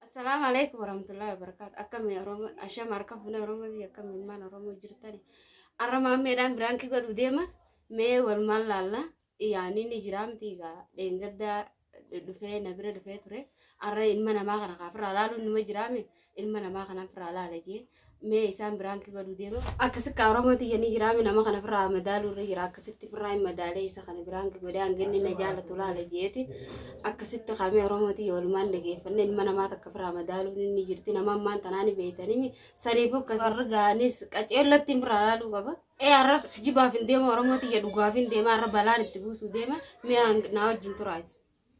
Assalaamu alaikum warahmatullahi wabarakatuh. Akkami Oromoo ashama harka fuune Oromoo fi akkami ilmaan Oromoo jirtani. Arra maammeedhaan biraankii godhu deema mee wal maal laalla yaanii ni jira miti egaa dheengaddaa dhufee na bira dhufee ture. Arra ilma namaa kana kaa firraa laaluun numa jiraame ilma namaa kanaan firraa laala jee mee isaan biraankii godhuu deema akkasi kaa oromoo tiyya ni jiraami nama kana firraa madaaluu irra jira akkasitti firraa hin madaalee isa kana biraankii godhee hanginni na jaalatu laala jeeti akkasitti kaamee oromoo tiyya walumaan dhageeffanne ilma namaa takka firraa madaaluun inni jirti nama ammaan tanaani beeytanimi saniifuu akkasi warra gaanis qaceellatti hin firraa laaluu qaba ee har'a jibaaf hin deema oromoo tiyya dhugaaf hin deema har'a balaan itti buusuu deema mee hang- naa wajjin turaayisa.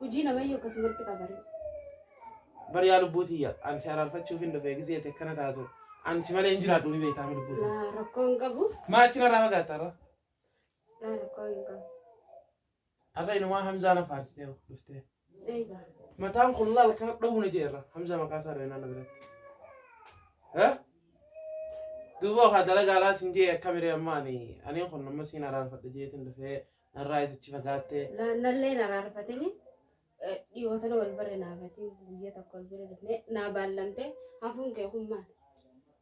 Hojii namayyu akkasumatti qabare. Bari yaa lubbuu tiyya an si araarfachuuf hin dhufe gisee ta'e kana taatu an si malee hin jiraadhu ni beektaa lubbuu tiyya. Laa rakkoo hin qabu. Maachi narraa fagaatta irra. Laa rakkoo hin qabu. Har'a inumaa Hamzaa na faarsitee dhuftee. Eegaa. Mataan kun laal kana dhowwu na jeerra Hamzaa maqaa isaa dhawee naannoo biratti. Eh? Duuba okaa dalagaa laa sin jee akkamiree ammaa ani ani kun amma siin araarfadha jeetiin dhufee Narraa isuchi fagaattee. Nallee na raarfatini dhiyoota na wal barre naafatiin guyyaa tokko wal bira dhufnee naa baallamtee hafuun kee kun maal?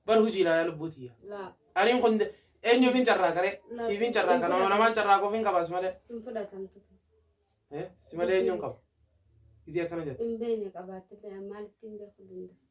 Bar hojii ilaalaa lubbuu tiyya. Laa Aniin kun eenyuuf hin carraa garee? Laa. Siif hin carraa kana namaan carraa koof hin qabaas malee. hin fudhatamtu Eh, Si malee eenyuun qaba? Isii akkana jette. hin beekne qabaattillee maalitti hin beeku danda'a.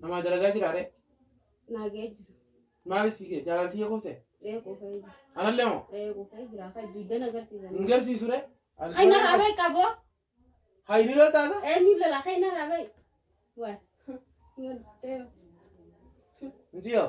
Namaa dalagaa jiraa ree? Naa ga'ee jira. Maali si kee jaalalti kee kufte? Ee kufee jira. Anallee moo? Ee kufee jira. Kan dugdan agarsiisan. Hin garsiisu ree? Kan narraa beeku qaboo. Haa inni lol taasa? Ee ni lola kan narraa beeku. Waa. Hin garsiisu. Miciyoo.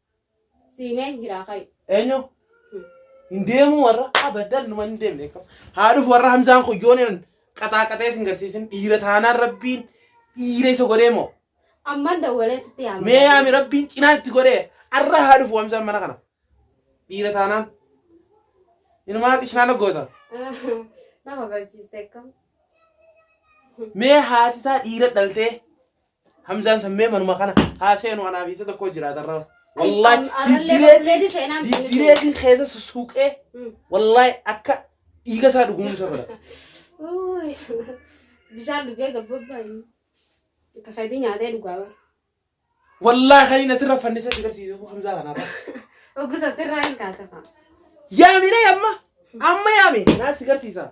Siimeen jiraa kayu. Eenyu? Hin deemuu warra abadan numa hin deemne. Haa dhufu warra Hamzaan kun yoo inni qaxaaqaxee sin garsiisin dhiira taanaan rabbiin dhiira isa godhee moo? Amman dawwalee sitti yaama. Mee yaami rabbiin cinaa itti godhee arra haa dhufu Hamzaan mana kana. Dhiira taanaan. Inumaa qishnaana goota. Nama barsiiste kam. Mee haati isaa dhiira dhaltee Hamzaan sammee manuma kana haa seenu anaaf isa tokko jiraata irra. Wallahi Am- arrallee diddireetiin- barbeedi seenaa hin beekne. diddireetiin keessa sussuuqee Mm. wallahi akka dhiiga isaa dhugumsa godha. Uuy. Bishaan dhugee gabbabaa inni. Akka keetii nyaatee dhugaa bara. Wallahi kan inni asirra fannisa si garsiisu Hamzaa kanaaf. Oggusa sirraa hin kaasifama. Yaamine amma amma yaame naa si garsiisa.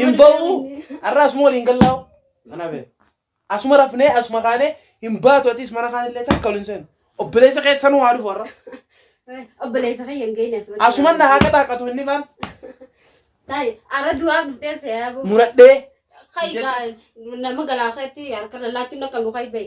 hin ba'u har'a asuma waliin gallaa'u kana bee asuma rafnee asuma kaanee hin baatu atis mana kaan illee takka waliin seenu obboleessa kee sanuu haa dhufu har'a Obboleessa kiyya hin geenye asumatti. asuma na haa qaxaaqatu inni kaan Taa'e arra du'aa dhuftee seeyaa boo. muradhee Kai gaa nama galaa keetti harka lallaachuun akka nu kai ba'e.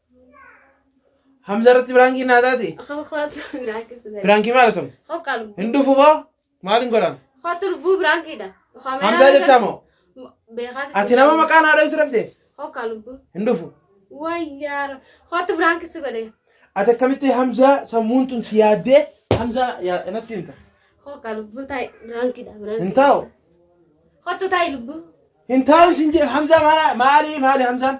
Hamza irratti biraankiin naa taate. Biraankii maal tun? Hin dhufu boo maal hin godhan? Hamzaa jechaa moo? Ati nama maqaa naa dhooftu dhabde? Hin dhufu. Ati akkamitti Hamzaa sammuun tun si yaaddee Hamzaa yaa- natti himta. Hin taa'u. Hin taa'u sin jedhe Hamzaa maali maali maali Hamzaan?